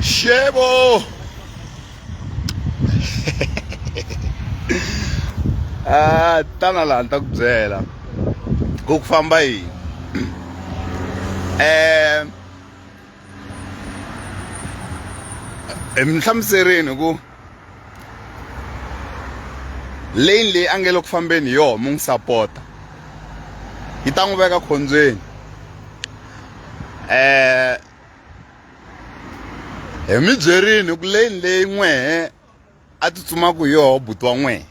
Shebo! ah, tana laha ni ta ku byela ku ku famba yini eh mi hlamuserini ku lane leyi a nge le ku fambeni hi yoho mi n'wi sapota yi ta n'wi veka khombyeni um hi mi byerini ku lane leyi n'wehe a tsutsumaka hi yoho buti wa n'wehe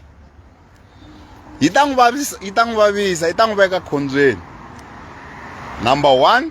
yi ta n'wi vavisa yi ta n'wi vavisa yi ta n'wi veka khombyeni number one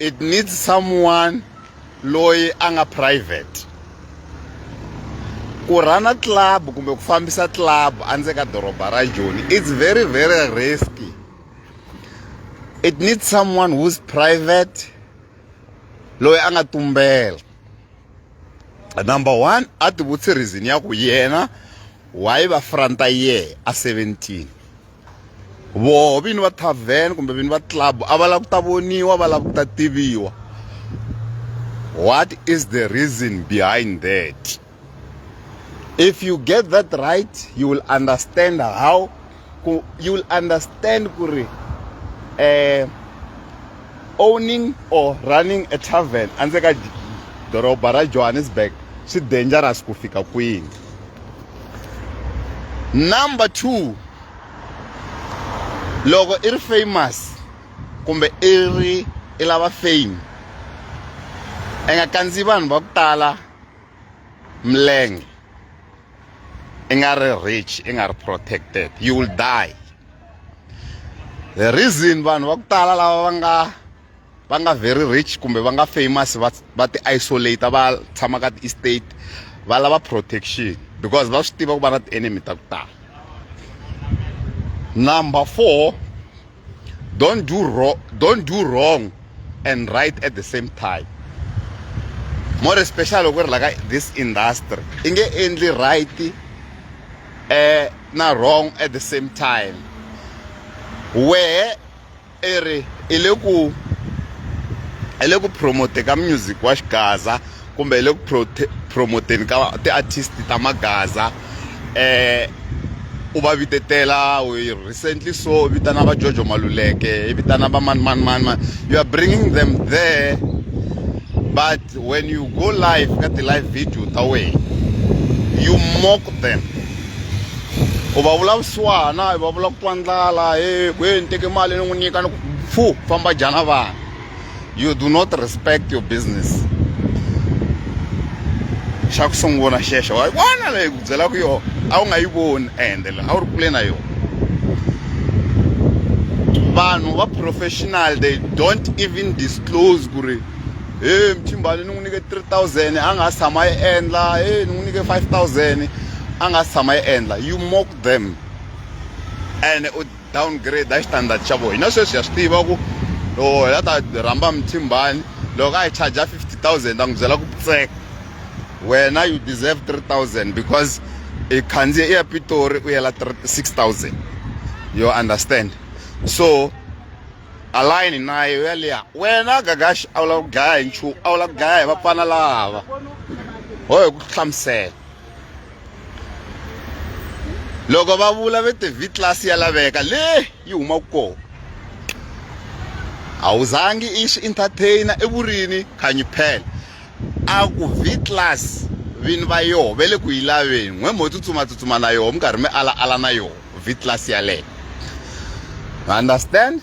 it needs someone loyi a nga private ku rhana club kumbe ku fambisa club endzeni ka doroba ra joni it's very very risky it needs someone who's private loyi a nga tumbela number one a tivutsi reason ya ku yena why va front year a 17 voho vini va tavern kumbe vini va club a va lava ku ta voniwa va lava ku ta tiviwa what is the reason behind that if you get that right you will understand how you will understand ku ri um owning or running a tarven andze ka doroba ra johannesburg swi dangerous ku fika kwini number two loko i ri famous kumbe i ri i lava fame i nga kandziyi vanhu va ku tala milenge i nga ri rich i nga ri protected you will die the reason vanhu va ku tala lava va nga va nga very rich kumbe va nga famous va va ti isolate va tshama ka ti-estate va lava protection because va swi tiva ku va na ti-enemy ta ku tala number four don't do wrong, don't do wrong and right at the same time more special loko ri la ka this industry i nge endli right eh na wrong at the same time wehe i ri i le ku i le ku promote ka music wa xigaza kumbe hi le ku promote-eni ka ti-artist ta magaza u va vitetela recently so u vitana va Jojo Maluleke i vitana va mani mani mani mani you are bringing them there but when you go live ka ti-live video ta wena you mock them u va vula vusiwana u va vula ku twa ndlala he kwe ni teke mali ni n'wi nyika ni ku pfu famba jana vana. you do not respect your business xa ku sungula xexo wa vona leyi ku byelaka yona a wu nga yi voni ende la a wu ri kule na yona vanhu va professional they don't even disclose ku ri he mchimbani ni n'wi nyike 3000 a nga si tshama yi endla he ni n'wi nyike 5000 a nga si tshama yi endla you mock them and u downgrade hi standard xa vona hina sweswi ha swi tiva ku loko hi la ta rhamba muthimbani loko a hi charger 50000 ta n'wi byela ku pitseka wena you deserve 3000 because i khandziye i ya pitori u yela 6000 you understand so alayini naye u ya liya wena gagaxi a wu lava ku dlaya hi nchumu a wu lava ku dlaya hi vapfana lava ho hi ku hlamusela loko va vula ve tivi class ya laveka le yi humaka kona a wu zangi i swi entertainer i vurini khanyi phela a ku v class vini va yoho ve le ku yi laveni n'we mo tsutsumatsutsuma na yoho mi karhi mi ala ala na yoho v class yaleyo understand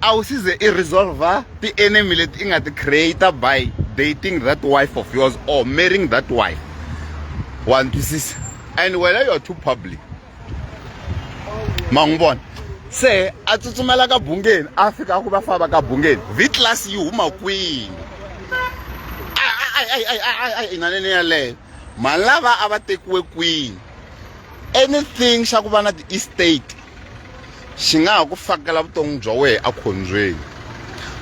A wu size i resolve ti enemy leti i nga ti creator by dating that wife of yours or marrying that wife wa ni twisisa and wena you are too public ma n'wi vona se a tsutsumela ka bungeni a fika a ku va famba ka bungeni vitlas yi huma kwini inanene yaleyo mali lava a va tekiwe kwini anything xa ku va na ti-estate xi nga ha ku fakela vutomi bya wena ekhombyeni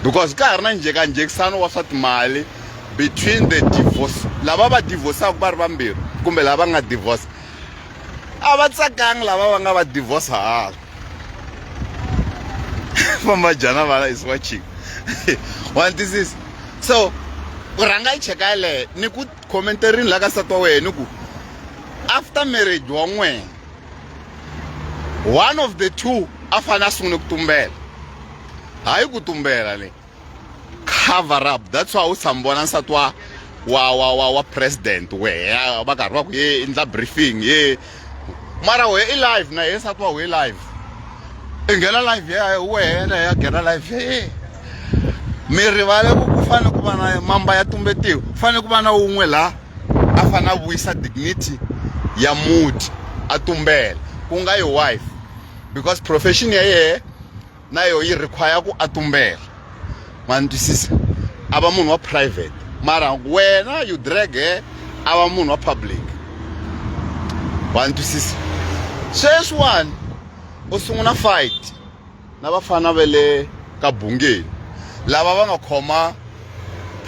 because ka ha ri na njhekanjhekisano wa swa timali between the divorce lava va divorcaka va ri vambirhi kumbe lava nga divorce a va tsakangi lava va nga va divorce hala famba jana vana is watching wa ntisisa so u rhanga yi cheka yeleyo ni ku khomentarini la ka nsati wa wena ni ku after marriage wa n'wina one of the two a fanele a sungule ku tumbela hayi ku tumbela le cover up that's why u tshami vona nsati wa wa wa wa wa president wehe va karhi va ku ye endla briefing ye mara wehe i live na ye nsati wa wehe live i nghena live ya wehe na ya nghena live ya ye mi rivale ku ku fanele ku va na mamba ya tumbetiwa ku fanele ku va na wun'we laha a fanele a vuyisa dignity ya muti a tumbela ku nga yi wife because profession ya yehe na yo yi require ku a tumbela ma ni twisisa a va munhu wa private mara wena you drag her a va munhu wa public wa ni twisisa sweswiwani u sungula fight na vafana va le ka bungeni lava va nga khoma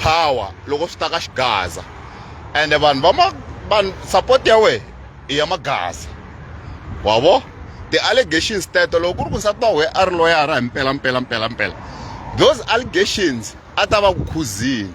power loko swi ta ka xigaza ende vanhu va ma vanhu support ya wehe i ya magaza wa vo ti-allegations teto loko ku ri ku nsati wa wehe a ri loyara hi mpela mpela mpela mpela those allegations a ta va ku khuzini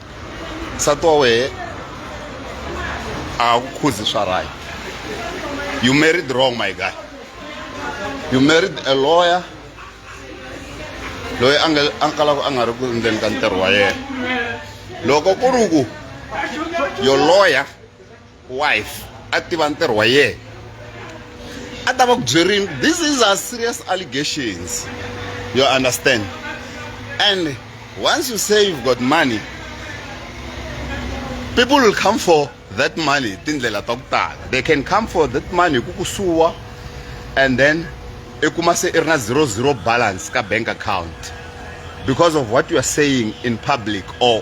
nsati wa wehe a ku khuzi swa right you married wrong my guy you married a lawyer loyi a nga a kalaka a nga ri ku ndzeni ka ntirho wa yena loko ku ri ku your lawyer wife a tiva ntirho wa yena a ta va ku byerini this is a serious allegations you understand and once you say you've got money people will come for that money tindlela ta ku tala they can come for that money ku kusuwa and then i kuma se i ri na zero zero balance ka bank account because of what you are saying in public or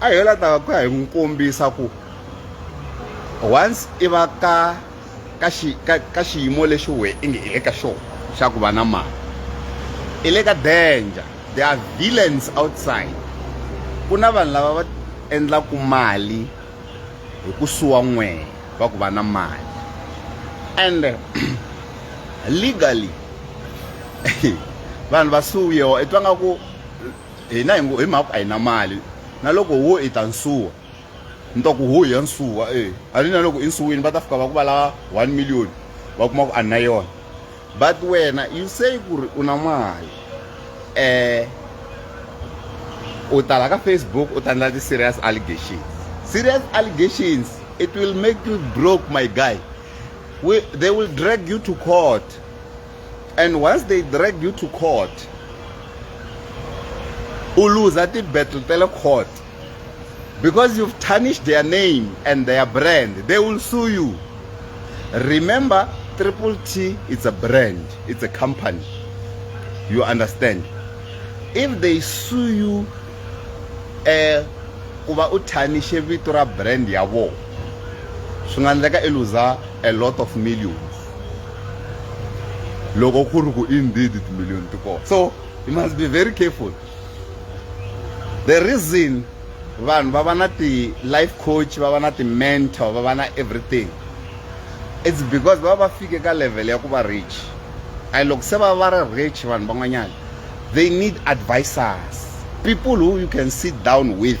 a hi la ta ku ya hi n'wi kombisa ku once i va ka ka xi ka ka xiyimo lexi we i nge i le ka xona xa ku va na mali i le ka danger there are villains outside ku na vanhu lava va endlaku mali hi ku suwa n'wehe va ku va na mali and legally vanhu va suwiwa i twa nga ku hina hi ngo hi mhaka a hi na mali na loko wo i ta nsuwa ni ta ku ho ya nsuwa e a ni na loko i nsuwini va ta fika va ku va lava one million va kuma ku a ni na yona but wena you say ku ri u na mali um u tala ka facebook u tandla ti-serious allegations serious allegations it will make you broke my guy we, they will drag you to court and once they drag you to court u luza ti-battle ta le court because you've tarnished their name and their brand they will sue you remember triple t it's a brand it's a company you understand if they sue you um ku va u thanishe vito ra brand ya vona swi nga endleka i luza a lot of millions loko ku ri ku indeed timiliyoni ti kona so you must be very careful the reason vanhu va va na ti-life coach va va na ti-mentor va va na everything it's because va va fike ka level ya ku va rich and loko se va va ri rich vanhu van'wanyana they need advisors people who you can sit down with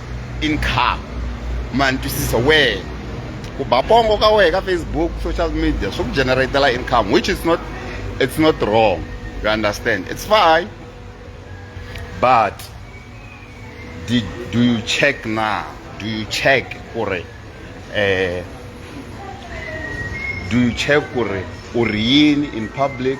income ma ni twisisa wena ku ba pongo ka wena ka facebook social media swi ku generatela income which is not it's not wrong you understand it's fine but did, do you check now do you check gore eh do you check gore u ri yini in public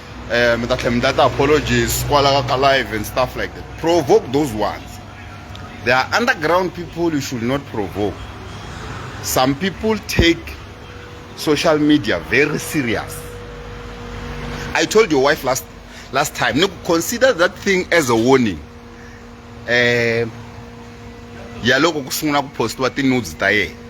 eh, mi ta tlhela mi data apologies kwalaho ka live and stuff like that provoke those ones there are underground people you should not provoke some people take social media very serious i told your wife last last time no consider that thing as a warning um ya loko ku sungula ku postiwa ti-nudes ta yena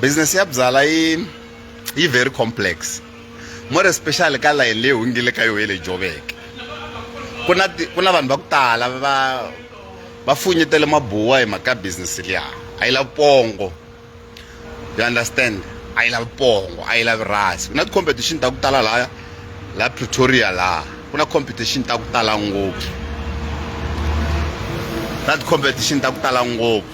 business ya byala yi yi very complex more especially ka layeni leyi hungile ka yo ye le joveke ku na ku na vanhu va ku tala va va funyetele mabuwa hi mhaka business liya a yi lavi pongo you understand a yi lavi pongo a yi lavi rasi ku na ti-competition ta ku tala laya la pretoria laha ku na competition ta ku tala ngopfu na ti-competition ta ku tala ngopfu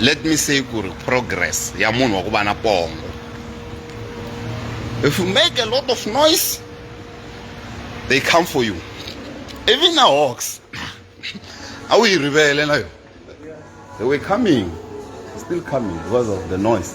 let me say ku ri progress ya munhu wa ku va na pongo if you make a lot of noise they come for you even na hawks a wu yi rivele na yona they were coming still coming because of the noise